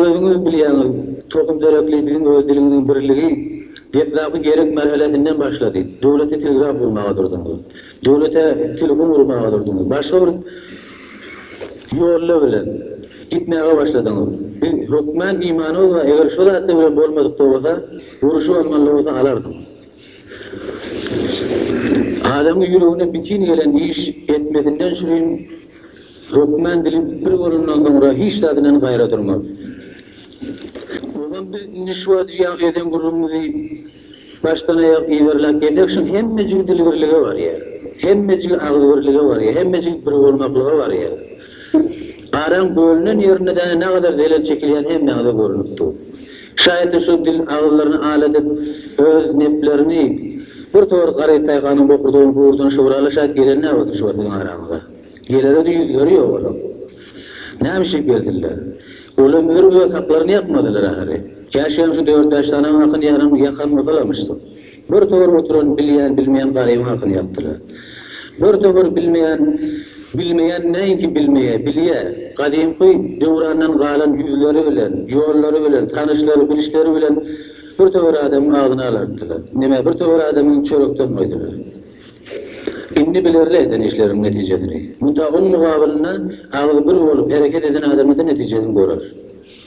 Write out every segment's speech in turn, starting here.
Özüňiz bilýäňiz, tohum deregli biziň öz dilimiziň birligi geplapy gerek märhelesinden başlady. Döwlete telgraf gurmaga durduňyz. Döwlete telefon gurmaga durduňyz. Başga bir ýolla bilen gitmäge başladyňyz. Biz hökmän imanymyz bar, eger şo zatlar bilen bolmadykda bolsa, urşy bolmaly bolsa alardyk. Adamyň ýüregine bitin gelen iş etmesinden şirin hökman dili bir bolandan soňra hiç zat bilen gaýra durmaz. Ogam biz indi şu wagt ýag eden gürrüňimizi başdan aýak yzarlap gelmek üçin hemmejigi dilbirlige barýar. Hemmejigi agzybirlige barýar, hemmejigi birbolmaklyga barýar. Araň bölünen ýerinde däne nägadar zelel çekilýäni hem näze görnüp dur. Şaýatly şu dil agyzlaryny al edip, öz neplerini bir tor garyp paýhanyň bokurdagyny gurdan şöwraly şaýat gelen näbata şu wagt biziň araňyza? Gelere-de ýüzleri ýok olaň. Näme şüp geldiler? Olam ör-ör haklaryny ýakmadylar ahyry. Käşgem şu dört-bäş sanaň hakyny ýaran ýakan bolsalarmyşdyk. Bir towar oturan bilýän-bilmeýän garybyň hakyny ýapdylar. Bir towar bilmeýän, bilmeýän näinki bilmeýä, bilýä, gadymky döwrandan galan ýüzleri bilen, ýollary bilen, tanyşlary, bilişleri bilen bir towar adamyň agzyny alartdylar. Nemä bir towar adamyňy çörekden goýdular. Indi bilerler eden işleriniň netijesini. Munta oň mugabylynda agzy bir bolup hereket eden adamyda netijesini görer.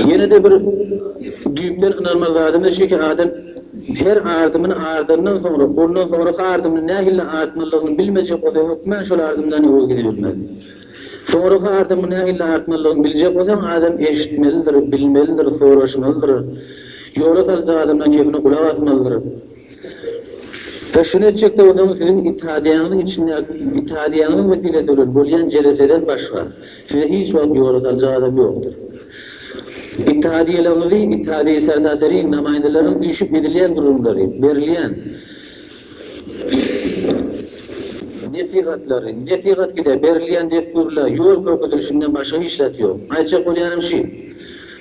Ýene-de bir düýpden ynanmaly zadymyz şuki, adam her ardymyny ardandan soňra, ondan soňraky ardymyny nähili artmalydygyny bilmejek bolsa, hökman şol ardymdan ýola gidibilmez. Soňraky ardymyňy nähili artmalydygyny biljek bolsaň, adam eşitmelidir, bilmelidir, soraşmalydyr. Ýola saljak adamdan kepine gulak asmalydyr. We şuny etjek-de bolsaňyz, siziň itadiýaňyzyň içindäki, itadiýaňyzyň meselesi bilen bolýan jeleseden başga, Size hiç wagt ýola saljak adam ýokdur. Ittihadyýelerimizi, ittihadyýe serdarlary, namaýyndalaryň üýşüp edilýän gürrüňleri, berilýän nesihatlary, nesihat gide berilýän dessurlar, ýol görkezilişinden başga hiç zat ýok. Aýtjak bolýanym şi.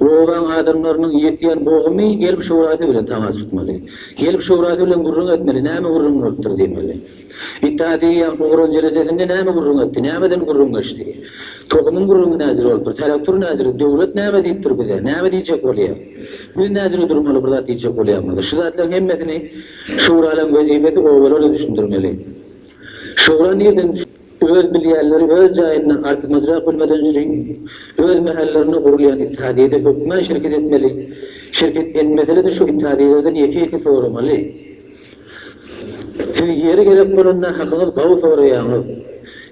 Bu obaň adamlarynyň ýetýän bogumy gelip şurasy bilen tamas tutmaly. Gelip şurasy bilen gürrüň etmeli, näme gürrüň bolupdyr diýmeli. It a diýýän ugran jelesesinde näme gürrüň etdi, nämeden gürrüň geçdi? Tohumyň gürrüňi nädür bolupdyr, telektur nädür, döwlet näme diýipdir bize, näme diýjek bolýar? Biz nädüre durmaly bir zat diýjek bolýarmyz? Şu zatlaryň hemmesini şuralaryň wezipesi obalara düşündirmeli. Şura nirden Öz bilýänleri öz jaýynda artymyzrak bilmeden üçin öz mähällerinde gurulýan ittihadyýede hökmän şirket etmeli, şirket etmesede şu ittihadyýelerden ýeke-ýeke soramaly. Siz ýeri gerek bolanda hakyňyz gawy soraýaňyz.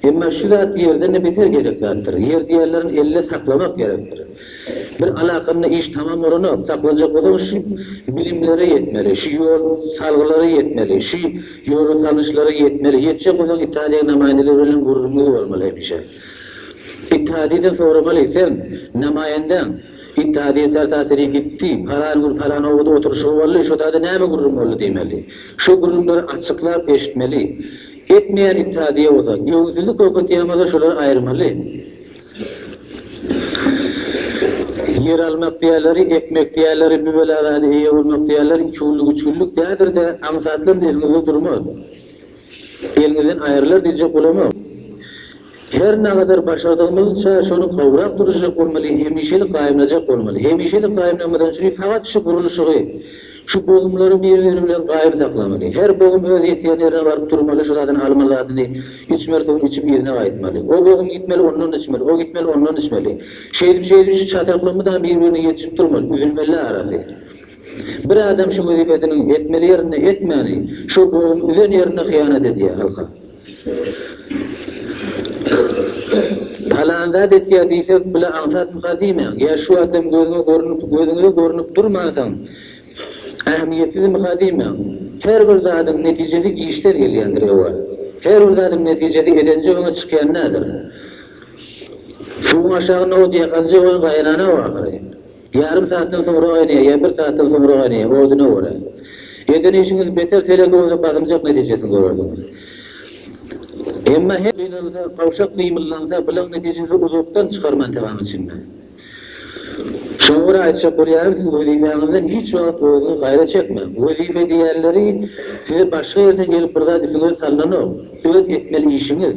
Emma şu zat ýerden-de beter gerek zatdyr. Ýer diýýänleriň elde saklamak gerekdir. Bir alakanda iş tamam bolanok, sak boljak bolsaň şu bilimlere ýetmeli, şu ýol salgylara ýetmeli, şu ýola salnyşlara ýetmeli, ýetjek bolsaň Italiýa namaýendeler bilen gürrüň edip almaly hemişe. Italiýadan soramaly, sen namaýendäň Italiýa sertaseri gitdi, palan gün palan obada oturyşygy boldy, şo zada näme gürrüň boldy diýmeli. Şo gürrüňleri açyklap eşitmeli. Etmeýän Italiýa bolsa, ýowuzlyk köketýän bolsa şolary aýyrmaly. Ýer almak diýerleri, ekmek diýerleri, miwelabada eýe bolmak diýerleri iki günlük, üç günlük däldir-de, aňsatlam eliňizde durmaz. Eliňizden aýrylar diýjek bolamok. Her nagadar başardygymyzça şony gowrak duruzjak bolmaly, hemişelik gaýymlajak bolmaly. Hemişelik gaýymlanmadan üçin sagat şu gurluşygy, Şu bohumlary bir-biri bilen gaýry saklamaly. Her bohum öz ýetýän ýerine baryp durmaly, şu zadyny almaly zadyny içmeli soň içip yzyna gaýtmaly. O bohum gitmeli ondan içmeli, o gitmeli ondan içmeli. Şeýdip şeýdip şu çatakly mydama bir-birine ýetişip durmaly, üzülmelä arasy. Bir adam şu wezipesiniň etmeli ýerinde etmäni, şo bohum üzen ýerinde hyýanat edýä halka. Halan zat etýär diýsek, bile aňsatmyka diýmäň. Ýa şu adam gözüňe görnüp, gözüňize görnüp durmansoň, ähmiýetsizmika diýmäň. Her bir zadyň netijesi işden gelýändir, ewa. Her bir zadyň netijesi edenje öňe çykýan näder. Suwuň aşagy nowut ýakanja ony gaýrana-ow ahyry. Ýarym saatdan soňra gaýnaýar, ýa bir saatdan soňra gaýnaýar, hodyna görä. Eden işiňiz beter telege bolsa gazanjak netijesini görersiňiz. Emma her gynalsa, gawşak gymyldansa, bilaň netijesi uzakdan çykar mantygaň içinde. Şoňa görä aýtjak bolýarym, siz wezipäňizden hiç wagt özüňiz gaýra çekmäň. Wezipe diýýänleri size başga ýerden gelip bir zat üstüňize salnanok. Öz etmeli işiňiz.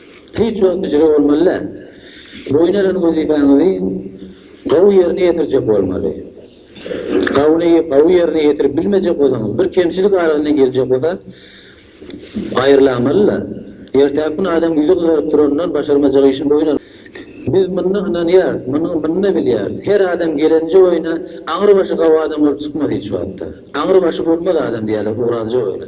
Tiz jogapkärçilik bolmaly-da. Boýun alan wezipäňizi gowy ýerine ýetirjek bolmaly. Gawny gowy ýerine ýetirip bilmejek bolsaňyz, bir kemçilik arasyna girjek bolsa, gaýyrlamaly-da. Ertäki gün adam ýüzi gyzaryp duranyndan başarmajak işini boýun almaly. Biz muny ynanýarys, muny-da bilýäris. Her adam gelenje oýna aňry başy gawy adam bolup çykmaz hiç wagtda. Aňry başy bolmaz adam diýýärler, uradyja oýna.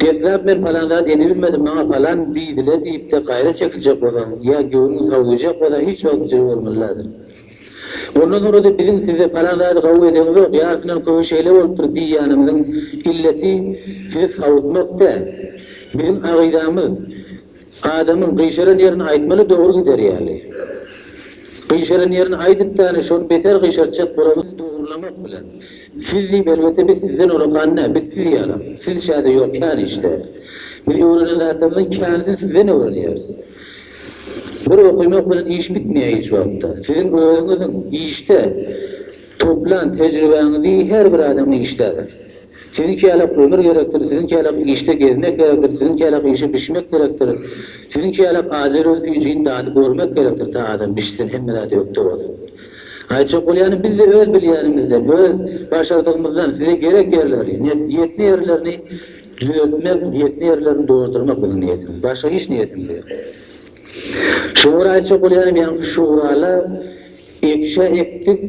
Gepläp men palan zat edibilmedi, maňa palan diýdile diýip-de gaýra çekiljek bolan ýa göwnüňi gawy duýjak bolan hiç wagt bujur bolmaly däldir. Ondan soňra-da biziň size palan zady gawy edeňzok, ýarysyndan köbi şeýle bolupdyr diýýänimiziň illeti sizi sawutmak däl. Biziň agydamyz. Adamyň gyşaran ýerini aýtmaly dogry gider ýaly. Gyşaran ýerini aýdyp däne şony beter gyşartjak bolamyz dogrylamak bilen. Siz diýip elbetde biz sizden olakan dä biz siz ýalam. Siz çäde ýok kän işde. Biz öwrenen zatlarymyzyň känisini sizden öwrenýäris. Bir okymak bilen iş bitmeýär hiç wagtda. Siziň özüňiziň işde toplan tejribäňizi her bir adam işdädir. Siziň käläp ömür gerekdir, siziň käläp işde gezmek gerekdir, siziň käläp işe bişmek gerekdir, siziň käläp azerow süýjini dady görmek gerekdir, ta adam bişsin, hemme zat ökde bolsun. Aýtjak bolýanym, biz-de öz bilýänimizden, öz başardygymyzdan size gerek ýerleri, ýetne ýerlerini düzeltmek, ýetne ýerlerini doldurmak biziň niýetimiz, başga hiç niýetimiz ýok. Şuňa görä aýtjak bolýanym, ýaňky şuralar, Ekişe ekdik,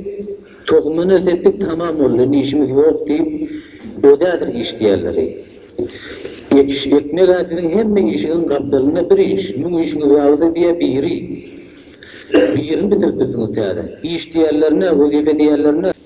tohumyna sepdik tamam boldy, indi işimiz ýok diýip, ödädir iş diýerleri. Ekiş ekmeg-ä siziň hemme işiňiň gapdalynda bir iş, müň işiňiz barada diýe biri, birini bitirip bilsiňiz täze. Iş diýerlerine, wezipe diýerlerine.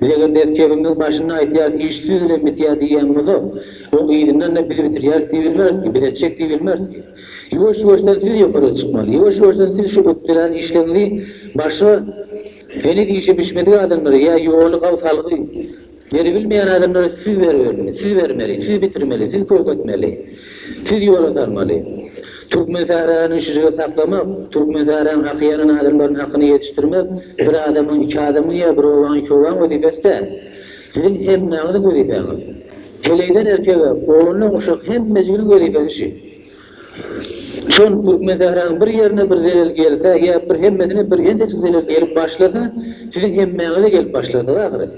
Biz eger ders ýörgümiziň başynda aýtýarys iş siz bilen bitýär diýýän bolsa, oň yzyndan-da biz bitirýäris diýip bilmeris-ki, biz etjek diýip bilmeris-ki. Ýuwaş-ýuwaşdan siz ýokara çykmaly. Ýuwaş-ýuwaşdan siz şu ökdeläň işleriňizi başga heniz işi bişmedik adamlara ýa ýoly gaw salgy beribilmeýän adamlara siz beribermeli, siz bermeli, siz bitirmeli, siz köwk etmeli. Siz ýola salmaly. Türkmensahrany şujagaz saklamak, Türkmensahranyň hakyýanan adamlarynyň hakyny ýetişdirmek bir adamyň, iki adamyň ýa bir obaň, iki obaň wezipesi däl. Siziň hemmäňiziň wezipäňiz. Heleýden erkege, oglandan uşak hemme jiginiň wezipesi şi. Şol Türkmensahranyň bir ýerine bir zelel gelse ýa bir hemmesine bir ençejik zelel gelip başlasa, siziň hemmäňize gelip başlardyk ahyry.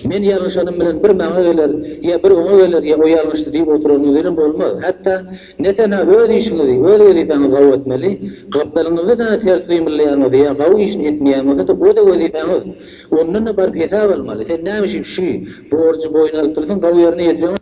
Men ýalňyşanym bilen bir maňa geler, ýa bir oňa geler, ýa o ýalňyşdy diýip oturanyňyz bilen bolmaz. Hatda, ne tena öz işiňizi, öz wezipäňizi gawy etmeli, gapdalyňyzda däne ters gymyllaýanyňyzy ýa gawy işini etmeýäňizi-de o-da wezipäňiz. Ondan-da baryp hesap almaly. Sen näme üçin şü, borjy boýun alyp dursaň, gawy ýerine ýetireňok.